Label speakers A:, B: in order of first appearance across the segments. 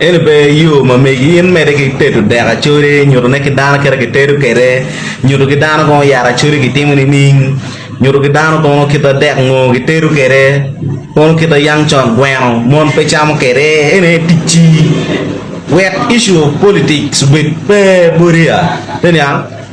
A: Eni pe yo ma megi in mede ki tedo dek acoli nyuto ne ki dano kit ma kitedo kwede nyuto ki dano kono yat acoli kitimo nining nyuto ki dano kono kit ma dek ngo kitedo kwede kono kit ma yam con gweno mon pe camo kwede eni aye ticci wek issue of politics obed pe bodiya pe niang.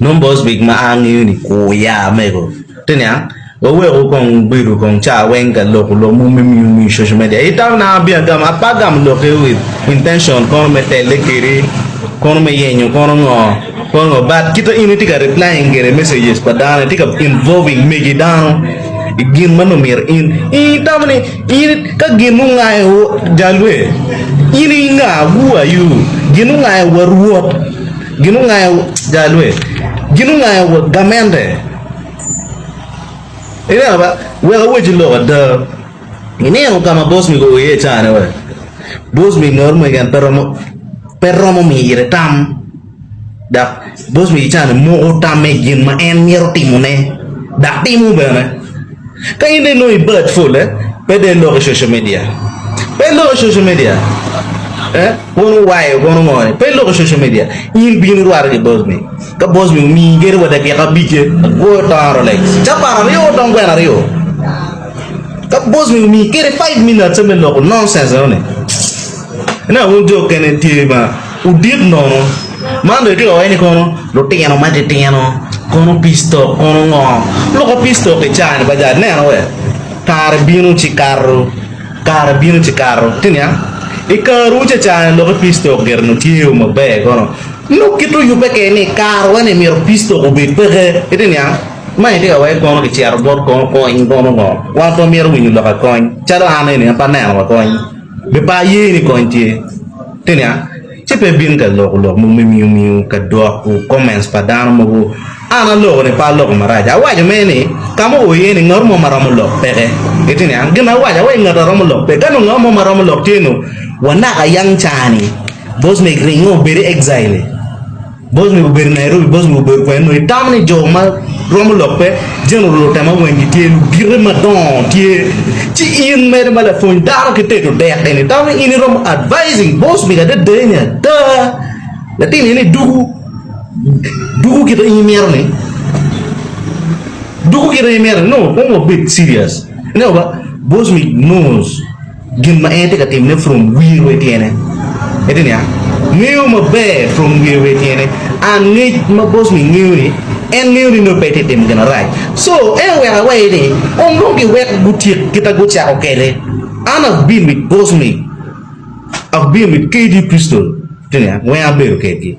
A: Nongo Bosvik ma a ngeyo ni kur ya mego te niang waweku kong wubedu kong ca weng ka loko lok mo me miyo miyo social media i tam na abino agamo ape agamo lokke with intention kono me telle kedi kono me yenyo kono ngo kono ngo but kita in itye ka replying gire messages pa dano itye ka involving megi dano igin ma nongo myero in itamo ni In ka gin ongayo jalwe, in i nga wuwayu? Gin ongayo wa rwot, gin ongayo jalwe, gin ongayo wa gamente. Ineno ba, wek awacci lok ada, ineno ka ma bosmi goyo iye icane-ni, bosmi noti mwaki en pe romo mire tam. Dok bot Mejicane moko tamme i gin ma en mito timone, dok timo bene. Ka in dong inongo i bad pole, pe dong ilok i social media. Pe ilok i social media. Eh, kono wayo, kono ngo ni? Pe ilok i social media. In bino irwate ki bot mi. Ka bot mi omiyi gedo pa dakika abicce, agwoyo tongo Rolex. Ca par aryo otong kwena aryo. Ka bot mi omiyi kede five minutes-e me loko nonsense enoni, ineno wun jo kene tye ma. Odit nono. Man bene tye ka wacce ni kono lutino matitino kono peace talk kono ngo? Lok ma peace talk i caa ni bajad neno wek kare bino ci kato, kare bino ci kato ci niang i kare wu caca ni lok ki peace talk gire nongo tye o maber kono nongo kit oyube keken ni i kare wa ni myero peace talk obed peke ito niang ma itye ka wacce kono ki cito bot kono kony kono ngo? Wan pe wamyero winyo lok ki kony calo an eni an pe aneno wa kony. Be par ye ni kony tye? Te nia, ci pe ibin ka loko lok mogo me miyo miyo ka dwok u comments pa dano mogo. An aloko ni pe aloko marac. Awaco mere ni ka mo o iye ni ngat mo ma romo lok peke. Ite nia, gin awaco awaco ngat a romo lok pe. Ka nongo ngat mo ma romo lok tye nongo wa naka yang cani. Boss Meg ringo obed i exile. Bos ni obedo Nairobi bos ni obedo kwene nongo itamo ni jo ma romo lok pe general lutema weng gitye lugite madongo tye ci in mere ma lapwony dano ki tedo dek eni itamo ni in iromo advising bos ni adada eni ada latin eni dugu dugu kita in imito ni dugu kita in imito ni nongo kong wabed serious ineno ba bos ni knows. Gin ma en tye ka timone from wiye wa i tyene. Ite niya, Ngeyo maber from wiye wa i tyene. Angec ma boss-ni ngeyo ni en ngeyo ni nongo pe itye ka timo gin marac. So, en oweko aweya ni onongo giwek gutyek kit ma gucako kwede. An abino i boss-ni, abino i KD Crystal, ite niya, weng abedo kedgi.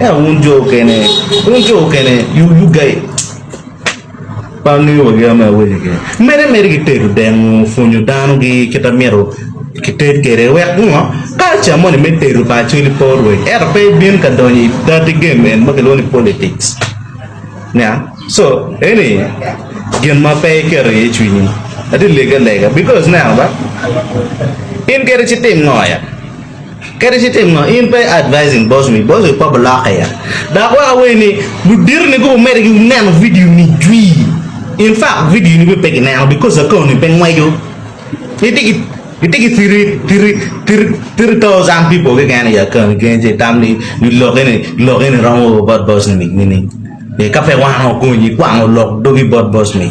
A: Ento wun jo okene, wun jo okene, you you guys pa ngeyo wa gin ma awinyo kene. Mene meri ki tedo dengo pwonyo dano gi kita mito ki ted kede wek ngo culture moni me tedo pa acholi pe orweny ento pe ibin ka donyo i dirty game en ma kilwongo ni politics nya so eni gin ma pe iketo iye cwinyi ati lege alega because ne ano ba in kede ci tim ngo ya. Kadi ci tim ngo, in pe advising boss me boss we kobo lok aye. Dok wek awer ni ludito ni gubo mere gi neno video ni jwii. In fact video ni bene pe gi neno because account ni pe ngweco. Giti gi giti gi three three three three thousand people keken i account ni keken ci itam ni ni lok eni lok eni romo wa bot boss ni nining. Ee ka pe wan okonyi kwang olok dogi bot boss me.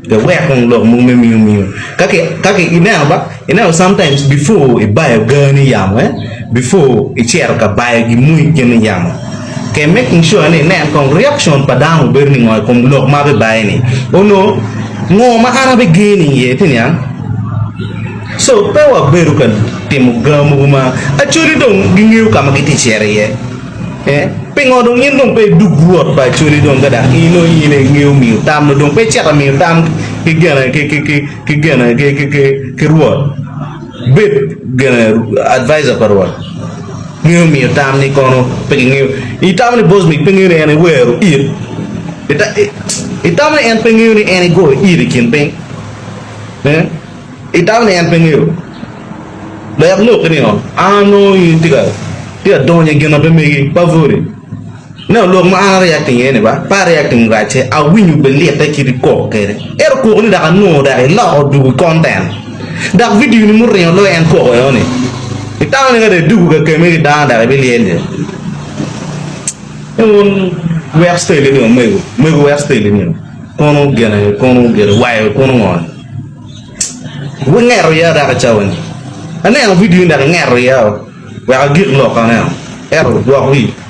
A: Pe wek kong lok mogo me miyo miyo ka ki ineno ba ineno sometimes before ibayo gaa ni yamo eh before icito ka bayo gin mogo i kene yamo ke making sure ni inen kong reaction pa dano bedo ni ngo i kom lok ma abibayo ni onongo ngo ma an abiger ni iye ti niang? So pe wabedo ka timo gaa mogo ma actually dong gingeyo ka ma giti cito iye. Pingo dong in dong pe idug Rwot pa Acholi dong ka dok in dong in aye ingeyo miyo tam dong pe icito ka miyo tam ki gene ki ki ki ki gene ki ki ki ki Rwot? Bed gene advisor pa Rwot ngeyo miyo tam ni kono pe kingeyo itamo ni Bosmik pe ngeyo ni en iwero it itamo ni en pe ngeyo ni en igoyo it i kin piny? I dako ni en pe ngeyo lek lok ki ningo an anongo in tye ka donyo i gin ma pe megi pavoli ineno lok ma an a reacting iye ni ba pe a reacting racce awinyo be lite kit ikok kede ento kok ni dok anongo dok iloko doko i content dok video ni muringo loyo en koko eno ni itamo ni ka dong idwogo ka kemi ki dano dok ibi lyel je wun wek style ni omego mego wek style ni kono gene kono gene wayo kono ngo ni. Wungeto iya dok i cawoni? Aneno vidio-ni dok ingeto iya wek agik lok aneno. Ento dwok wi.